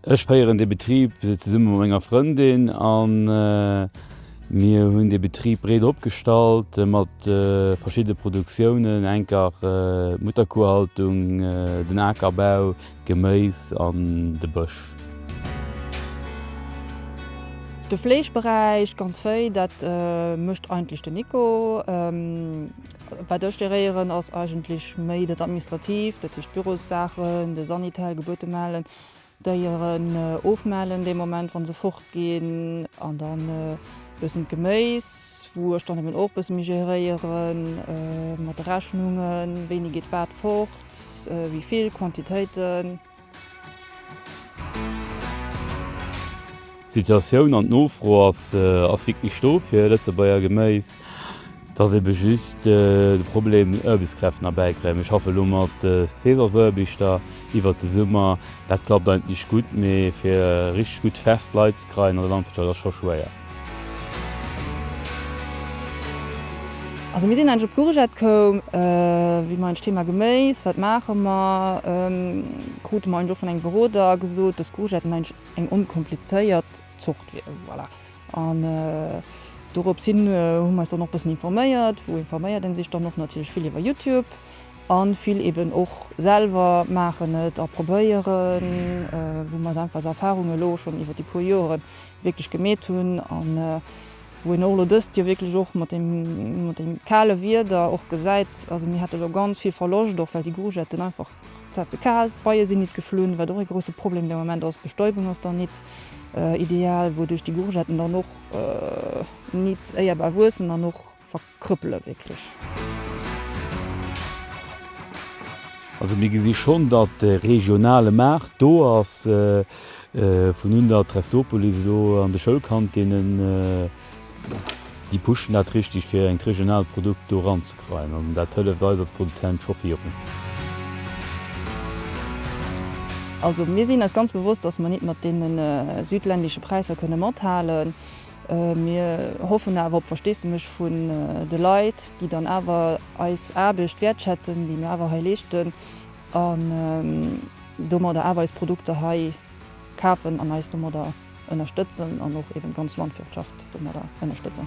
Ech féieren dee Betrib zesumme mat menger Frëndin an mir hunn dee Betrib breet opgestallt mat verschiddene Produktiounen, enker d'Mutterkuhhaltung, den Akerbau, d'Geméis an de Bësch. De Fleeschberäich ganz wéi, dat mécht eigentlech den Nico. Wat ech geréieren ass eigentlech méi dat Administratiivt, dat heescht d'Bürossaachen, de Sanitel, Gebuerte mellen, Déieren ofmellen dee Moment wann se fort ginn an dann e bëssen d'Geméis wou ech dann eben och e bësse méi geréiere mat de Rechnungen, wéini geet wat fort, wéi vill, Quantitéiten. D'Situatioun an d'Nofro ass ass wierklech do fir Lëtzebuerger Geméis. Et ass ebe just de Problem Ërbeskräften erbäikréien. Ech schaffe elo mat Seesassëerbichter iwwert de Summer. Dat klappt eigentlech gutt, mee fir richteg gutt fest Leit ze kreien an der Landwirtschaft ass scho schwéier. Also mir sinn eigentlech op d'Courgette koum, wéi mer eigentlech d'Thema Geméis, wat maache mer, krute mer eigentlech och vun engem Beroder gesot, dass d'Courgetten eigentlech eng onkomplizéiert Zort wier. Voilà. An dorops hin hu mer eis dann och e bëssen informéiert. Wou informéiert ee sech dann och? Natierlech vill iwwer Youtube a vill eeben och selwer maachen et a probéieren, wou mer einfach esou Erfarunge elo schonn iwwer déi puer Joren wierklech gemeet hunn an wou een och elo dëst Joer wierklech och mat deem kale Wieder och gesäit, also mir hate jo ganz vill Verloscht, och well déi Gourgetten einfach, se hat ze kal, d'Beie sinn nit geflunn, wat och ee grousse Problem de Moment ass, d'Bestäubung ass dann nit ideal, wouduerch déi Gourgetten dann och nit éierbar wuessen an och. verkrüppelen wierklech. Also mir gesi schonn, datt de regionale Maart do ass, vun un der Trestopolis elo an de Schoulkantinen, déi pushen dat richteg fir engt regionaalt Produkt do eranzekreien an dat hëlleft eis als Produzent scho virun. Also mir sinn eis ganz bewosst, datt mer nit mat deene südländische Präisser kënne mathalen. Mir hoffen awer op Versteesdemech vun de Leit, déi dann awer eis Aarbecht wäertschätzen, déi mir awer hei leeschten, an domadder awer eis Produkter hei kafen an eis domadder ënnerstëtzen an och eben d'ganz Landwirtschaft domadder ënnerstëtzen.